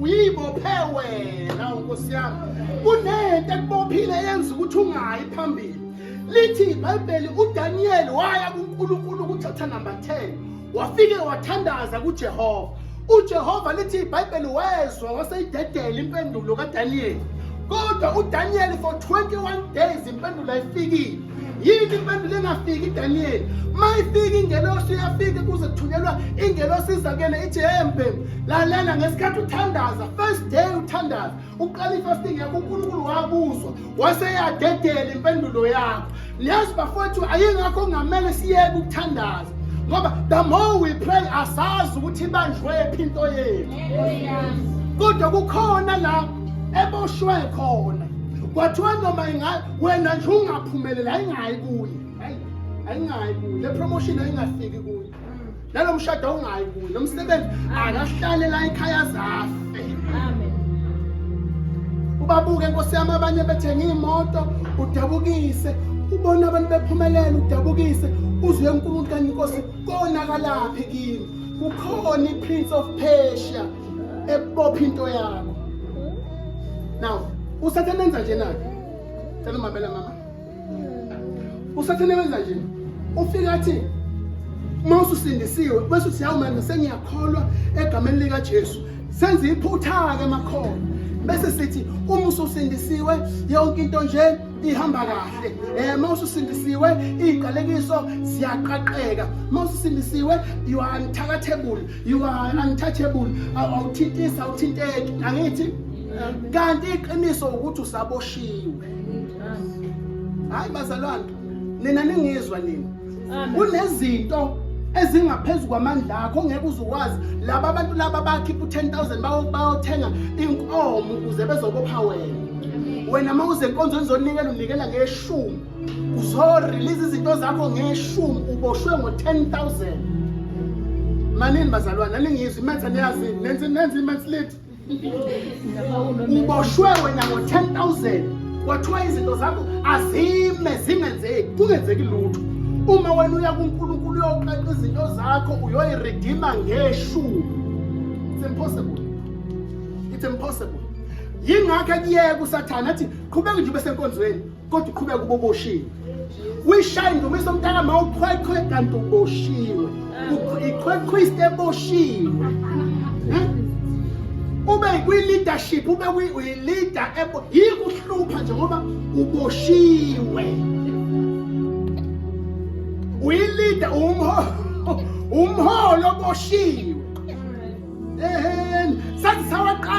uyibophe wena nkosi yami kunento ekubophile yenza ukuthi ungayi phambili lithi ibhayibheli udaniyeli waya kunkulunkulu kuchapter number 10 wafike wathandaza kujehova ujehova lithi ibhayibheli wezwa waseyidedela impendulo kadaniyeli kodwa udaniyeli for 21 days impendulo ayifikile yini impendulo engafiki Daniel mayifika ingelosi uyafika kuze kuthunyelwa ingelosi izakele ithi hey mbhemu lalela ngesikhathi uthandaza first day uthandaza uqala ifasting yakho unkulunkulu wakuzwa waseyadedela impendulo yakho niyazi bafowethu ayingakho kungamele siyeke ukuthandaza ngoba the more we pray asazi ukuthi ibanjwephi into yethu kodwa kukhona la eboshwe khona kwathiwa noma ingabe wena nje ungaphumeleli ayingayi kuye hayi ayingayi kuye le promotion ayingafiki kuye nalo mshado awungayi kuye lo msebenzi akahlale la ekhaya zafe amen ubabuke nkosi yami abanye bethenga iy'moto udabukise ubona abantu bephumelela udabukise uzwe unkulunkulu kanti inkosi konakalaphi kimi kukhona i-prince of persia ebopha into yakho now usathane enza nje nake cela umamela mama usathane wenza nje ufika athi uma ususindisiwe bese uthi hawu manje sengiyakholwa egameni likaJesu senza iphutha-ke makhona bese sithi uma ususindisiwe yonke into nje ihamba kahle eh uma ususindisiwe iziqalekiso ziyaqaqeka uma ususindisiwe you are unthakathebule you are untouchable awuthintisi awuthinteki angithi kanti iqiniso ukuthi usaboshiwe hayi bazalwane nina ningizwa nina kunezinto ezingaphezulu kwamandla akho ngeke uzukwazi laba abantu laba bakhipha u-10000 bayothenga inkomo ukuze bezokopha wena wena uma uzenkonzo nizonikela unikela ngeshumi uzorelease izinto zakho ngeshumi uboshwe ngo-10000 manini bazalwane aningizwi imatha niyazi nenze nenze imathileti uboshwe wena ngo-10000 kwathiwa izinto zakho azime zingenzeki kungenzeki lutho uma wena uya kunkulunkulu uyoqaqa izinto zakho uyoyiredima ngeshumi it's impossible it's impossible yingakho ekuyeka usathane athi qhubeka nje ube senkonzweni kodwa uqhubeka kuba uboshiwe uyishaya indumiso mntaka ma uqhweqhwe kanti uboshiwe iqhweqhwiste eboshiwe hmm? ube kwi-leadership ube uyi-leader yikuhlupha nje ngoba uboshiwe uyilida umholo oboshiwe eheni sathi sawaqala